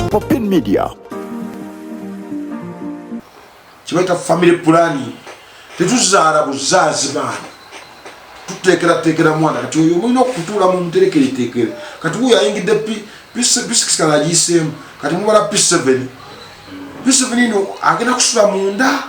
Popin Media kibaita family planning tetuzaala buzaazi baana tuteekerateekera mwana kati oyo mulina okutuula mu muterekereteekere kati wuyo ayingidde p6 kana agiyiseemu kati mubala p7 p7 ino agenda kusula munda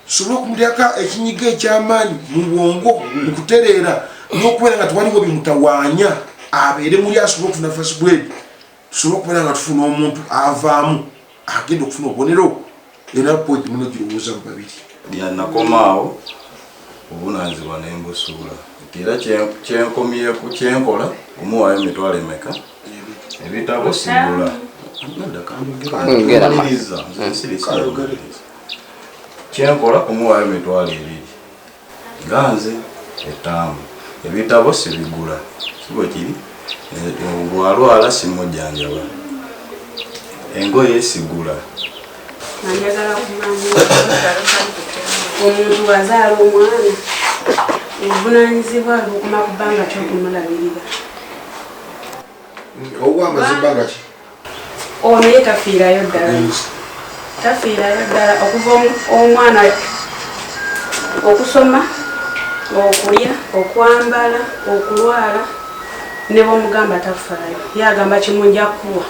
kisobole okumuteeka ekinyiga eky'amaanyi mu bwongo mu kutereera n'okubeera nga tewaliwo bimutawaanya abeere muli asobole okufuna fasi bwedi tusobole okubeera nga tufuna omuntu avaamu agenda okufuna obubonero era pointi muno girowooza mu babiri yanakomaawo obunanzibwa ne mbusuula nti era kyenkomyeku kyenkola omuwaayo emitwalo emeka ebitabo sigula kyenkola kumuwaayo mitwalo ebiri nga nze etaamu ebitabo sibigula kibwe kiri bwalwala simujjanjaba engoye sigula omuntu wazaala omwana obuvunanyizibwa bukuma ku bbanga kyokumulabirira owa amazima nga ki Ono ye tafiirayo ddala, tafiirayo ddala okuva omwana okusoma, okulya, okwambala, okulwala ne bwomugamba tafaayo ye agamba kimu nja kuwa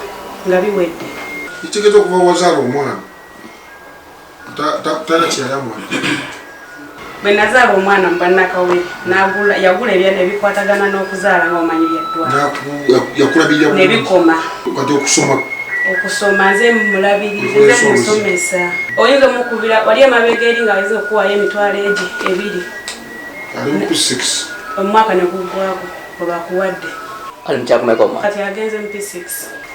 nga biwedde. Kitegeeza okuva wazaala omwana. bwe nazaala omwana mu bannakawe yagula ebyana ebikwatagana n'okuzaala nga omanyi byaddwanebikoma okusoma nze mulabirire musomesa oyinza omukubira wali emabega eri nga ayinza okuwayo emitwalo egi ebiri omwaka negugwago olwakuwadde kati agenze mp6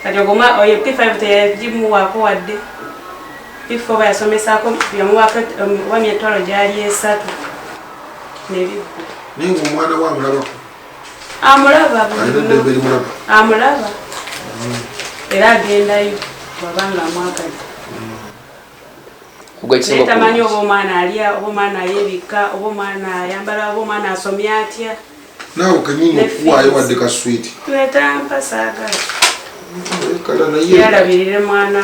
kati ogoma oyo p5 teyagimuwaako wadde If oba yasomesako yamuwako oba myetwalo gyali esatu nebigwa naye ngaomwana we amulabako amulaba amulaba amulaba mm. era agendayo wabanga amwagadde mm. tamanyi oba omwana alya oba omwana ayebikka oba omwana ayambala oba omwana asomye atya naawe kenyini okuwaayo wadde ka switi twetampa saagala yalabirire mwana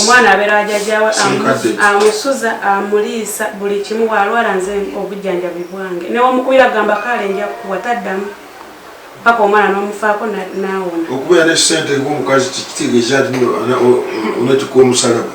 omwana abeera wajajawe amusuza amuliisa buli kimu walwala nze obujjanjabi bwange newomukubira gamba kaale nja kukuwa taddamu paka omwana nomufaako nawona okubeera ne sente ngaomukazi kitegeeza nti onatuka omusalaba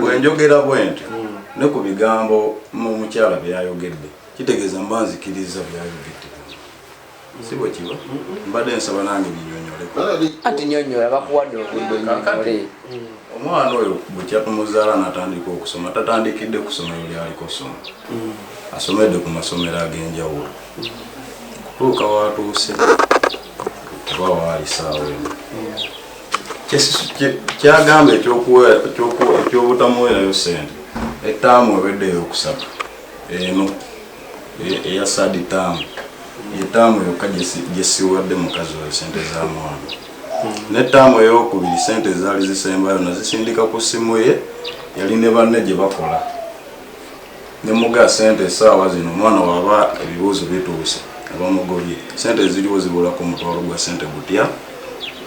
bwenjogera bwenti hmm. ne ku bigambo omukyala byeyayogedde kitegeeza mba nzikiriza byayogedde si bwe kiba mbadde nsaba nange binyonyoleko ati nyonyola bakuwadde obudde nyonyole hmm. Omwana oyo bwekyatumuzaala natandika okusoma tatandikidde kusomero lyaliko soma mm. asomedde ku masomero ag'enjawulo mm. kutuuka watuuse oba waali saawa eno kyagamba ekyobutamuwerayo sente etaamu eweddeyo okusatu eno eya sadi taamu yetaamu yokka gyesiwadde mukazi oyo sente za mwana ne ttaamu ey'okubiri ssente ezaali zisembayo nazisindika ku ssimu ye yali ne banne gye bakola ne muga ssente essaawa zino omwana waba ebibuuzo bituuse abamugobye ssente eziriwo zibulako omutwalo gwa ssente gutya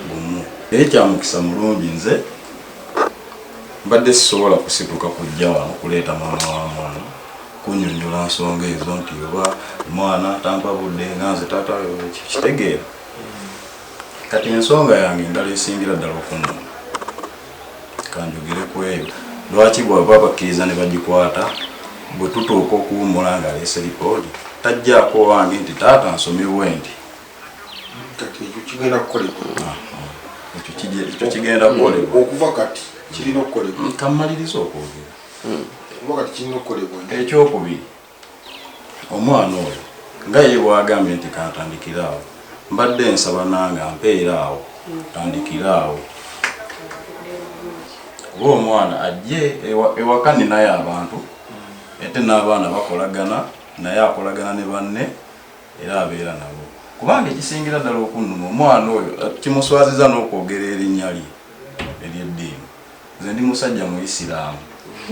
gumu naye kyamukisa mulungi nze mbadde sisobola kusituka kujja wano kuleeta mwana wa mwana kunyonyola nsonga ezo nti oba omwana tampa budde nga nze taata kitegeera Kati ensonga yange endala esingira ddala okunuma kanjogere ku eyo lwaki bwaba bakkiriza ne bagikwata bwe tutuuka okuwummula ng'aleese lipoodi tajjaako owange nti taata nsomye bwendi ekyo kigenda kukolebwa ah, ekyo kigenda kukolebwa okuva kati kirina okukolebwa kammaliriza okwogera hmm. okuva kati kirina okukolebwa ekyokubiri Omwana oyo nga ye bwagambye nti kantandikire awo mbadde nsaba nange ampeere awo tandikire awo kuba omwana ajje ewaka ninayo abantu ate n'abaana bakolagana naye akolagana ne banne era abeera nabo kubanga ekisingira ddala okunnuma omwana oyo eh, kimuswaziza n'okwogera erinnya lye ery'eddiini Nze ndi musajja muyisiraamu.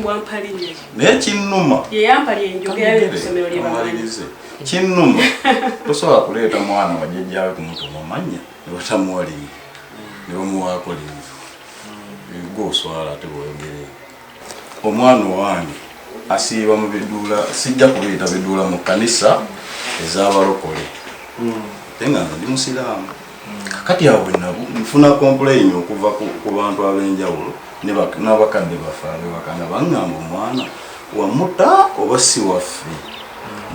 Wampa linnya ki? Naye kinnuma. Ye yampa lye njogera lye ku ssomero lye bamanyi. Kinnuma. Tosobola kuleeta mwana wa jjajjaawe kumutuma amannya ne batamuwa linnya ne bamuwaako linnya. Gwe oswala ate bwoyogerera. Omwana owange asiiba mu biduula sijja kubiyita biduula mu kkanisa ez'abalokole. Ate nga nze ndi musiraamu. kakati awo nfuna complain okuva ku bantu ab'enjawulo n'abakadde baffe abebakana baŋŋamba omwana wamuta oba si waffe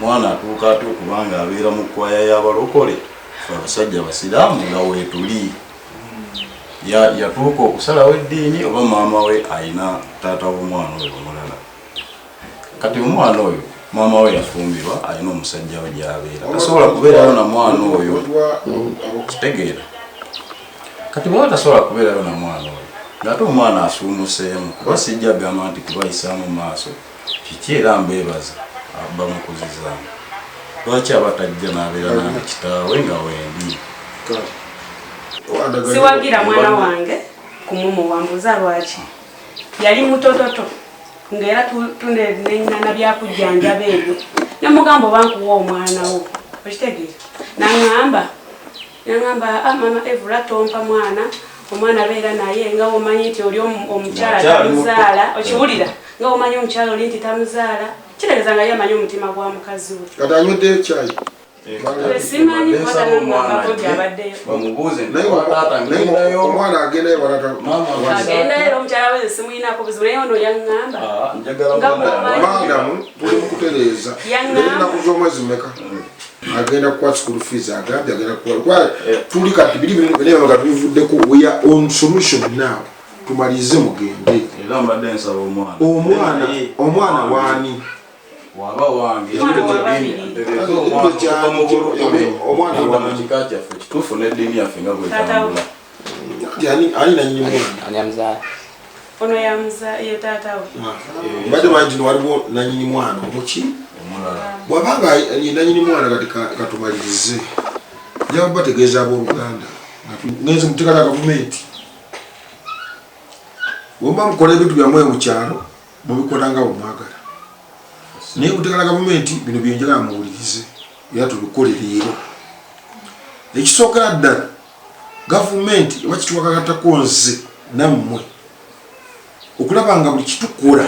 mwana atuuka atya okubanga abeera mu kwaya y'abalokole fe abasajja abasiraamu nga weetuli yatuuka okusalawo eddiini oba maama we alina taata w'omwana oyo omulala Kati omwana oyo maama we yafumbirwa alina omusajja we gyabeera tasobola kubeerayo na mwana oyo kitegeera kati bwaba tasobola kubeerayo na mwana oyo ngaate omwana asuumuseemu kuba sijja gamba nti kubayisaamu maaso kiki era mbeebaza bamukuzizaamu lwaki aba tajja n'abeera nange kitaawe nga wendi siwagira mwana wange kumumuwambuza lwaki yali mutototo ngaera tunenenyana byakujjanjaba ebyo nemugamba oba nkuwa omwana wo okitegeera naŋamba naŋamba ah, mama evula tompa mwana omwana beera naye nga omanyi nti oli omukyala tamuzaala okiwulira nga omanyi omukyala oli nti tamuzaala kitegeeza nga ye amanyi omutima gwa mukazi we omwana agendayo agendayo omukyala we simuyinako buzibu naye ono yaŋŋamba maadamu tuli mukutereeza ennaku z'omwezi meka agenda kuwa school fees agambye agenda kuwa eh. tuli kati biri bimu naye nga tubivuddeko we are on solution now tumalize mugende omwana omwana waani waba wange omwana mu kika kyaffe kituufu n'eddiini yaffe nga bwetambula ono yamuzaye taata we mbadde manyi tino waliwo nanyini mwana omuki bwabanga nanyini mwana kati katumalirize njaba bategeeza abooluganda ngenzi mutekata gavumenti wemba mukola ebintu byamwe mu kyalo Mubikola nga bwe mwagala naye mutegala gavumenti bino byenjagala muwulirize era tubikole leero. Ekisookera ddala gavumenti eba kitwagalatako nze nammwe okulaba nga buli kitukola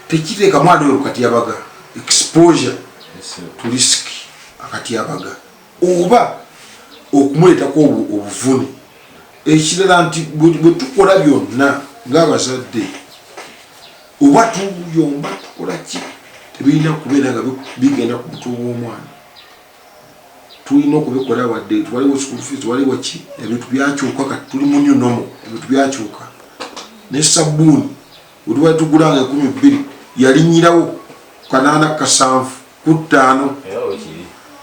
tekiteekamu adoyo kukatyabaga exposure to risk akatyabaga. oba okumuleetako obuvune ekirala nti bwe tukola byonna ng'abazadde oba tuyomba tukola ki tebirina kubeera nga bigenda ku mutwe w'omwana tulina okubikola wadde twaliwo school fees waliwo ki ebintu byakyuka kati tuli mu new normal ebintu byakyuka ne sabbuuni Buli wetugula nga ekumi bbiri yalinyirawo ku kanaana kasanvu ku ttaano.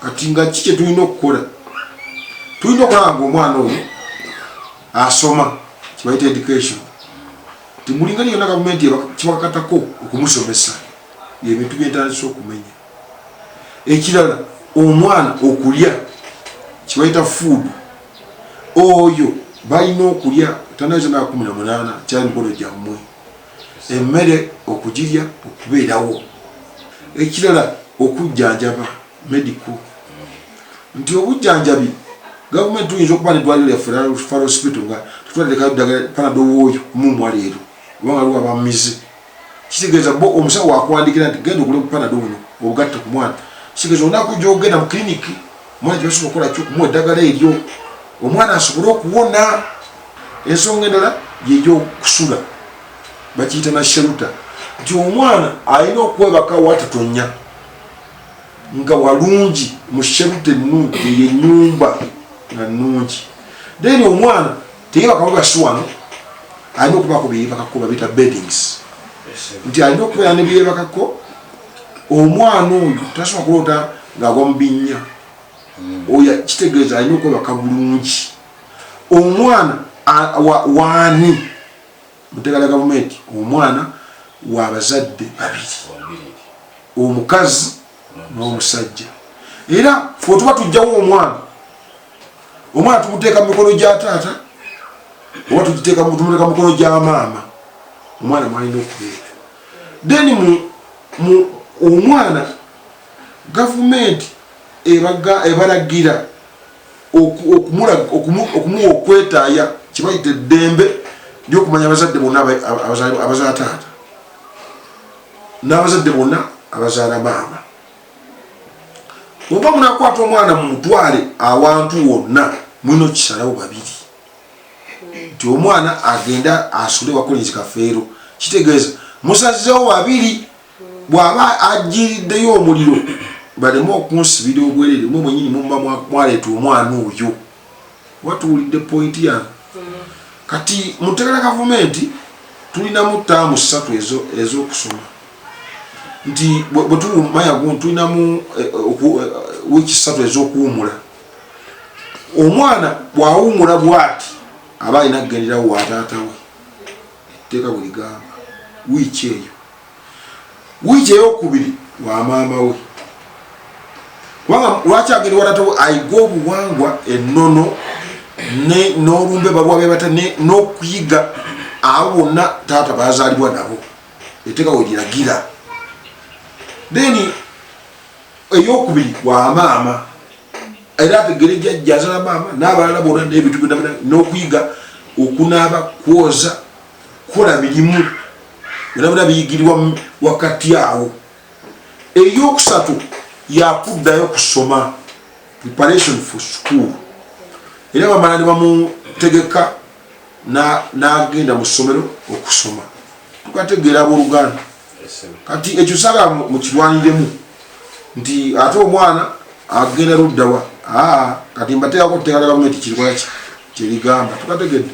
Kati nga ki kyetulina okukola? Tulina okulaba nga omwana oyo asoma kibayita education timulinga lyona gavumenti kibakatako okumusomesa ebintu byentandisa okumenya ekirala omwana okulya kibayita food oyo balina okulya tanaza nakumi na munana kyali mikono gyammwe emmere okugirya okubeerawo ekirala okujjanjaba medico nti obujjanjabi gavumenti tuyinza okuba nedwaliro lyafferalosipito nga tutwalirekayo ddagala panadowooyo mumwa leero kubanga liwa bamize kitegeeza bo omusawo wakuwandikira nti genda ogule bupanado buno obugatte ku mwana kitegeeza olunaku gyogenda mu kiliniki omwana kyebasobola okukola ki okumuwa eddagala eryo omwana asobole okuwona ensonga endala yegyokusula bakiyita na sheruta nti omwana alina okwebaka watatonya nga walungi mu sheruta ennungi eyo enyumba nga nnungi then omwana Tege bakababa si wano alina okuba ku biyibakako babita beddings nti alina okubeera ne biyebakako omwana oyo tasobola kuloota ng'agwa mu binnya hmm. oyo kitegeeza alina okwebaka bulungi omwana waani mutegala gavumenti omwana wabazadde babiri omukazi n'omusajja era fe otuba tujjawo omwana omwana tumuteeka mu mikono gya taata oba tumuteeka mu mikono gya maama omwana mwalina okubeera then mu omwana gavumenti ebalagira okumuwa okwetaaya kibayita eddembe lyokumanya abazadde bonna abazala taata n'abazadde bonna abazaala maama oba munakwata omwana mumutwale awantu wonna mulina okisalawo babiri nti omwana agenda asule wakolinzi kafeero kitegeeza musazzewo babiri bw'aba ajiriddeyo omuliro baleme okunsibira obwerere mwe mwenyini muba mwaleeta omwana oyo kuba tuwulidde pointi yange kati mutegera gavumenti tulinamu taamu ssatu ez'okusoma nti bwe tuwumayagu tulinamu eh, eh, eh, wiiki ssatu ez'okuwumula omwana bw'awumula bwati aba alina kugenderawo wataatawe etteeka bwe ligamba wiiki eyo wiiki eyokubiri wa maama we kubanga lwaki agenda walatawo ayiga obuwangwa ennono n'olumbe baluwa bebata n'okuyiga abo bonna taata bazaalibwa nabo eteeka we liragira then eyokubiri wa maama era ategere jajja azala maama n'abalala bona n'ebintu byona n'okuyiga okunaaba kwoza kola birimu birabira biyigirwa wakati awo eyokusatu yakuddayo kusoma preparation for school era bamala ne bamutegeka n'agenda mu ssomero okusoma tukategeera abooluganda kati ekyo sala mukirwaniremu nti ate omwana agenda luddawa kati mbateekako tteeka lya gavumenti kirwaki kyeligamba tukategedde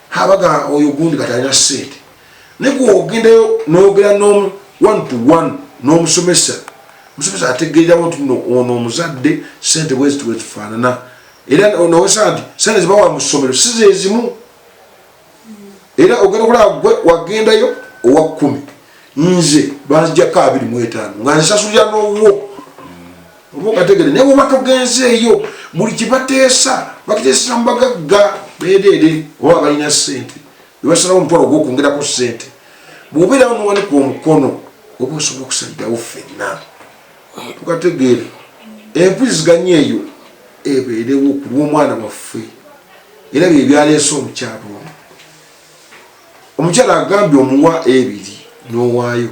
habaga oyo gundi katalina sente naye gwogendayo nogera nomu one to one nomusomesa omusomesa ategeerawo nti no ono omuzadde sente bweziti bwezifaanana era nowesa nti sente zibawa mu ssomero si zezimu era ogenda okulaba gwe wagendayo owa kkumi nze banzijako abiri mu etaano nga nsasulira n'owuwo olwogategere naye woba togenzeeyo buli kyebateesa bakiteeseza mu bagagga beedeede oba balina ssente bebasalawo omutwalo ogwokwongerako ssente bwobeerawo nowanika omukono oba osobola okusalirawo ffenna tukategeere empuziganya eyo ebeerewo ku lw'omwana waffe era bye byaleese omukyalo ono omukyala agambye omuwa ebiri n'owaayo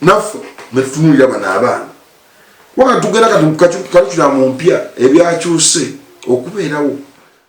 naffe netutunulira bano abaana kubanga tugenda kati kukakikulamu mpya ebyakyuse okubeerawo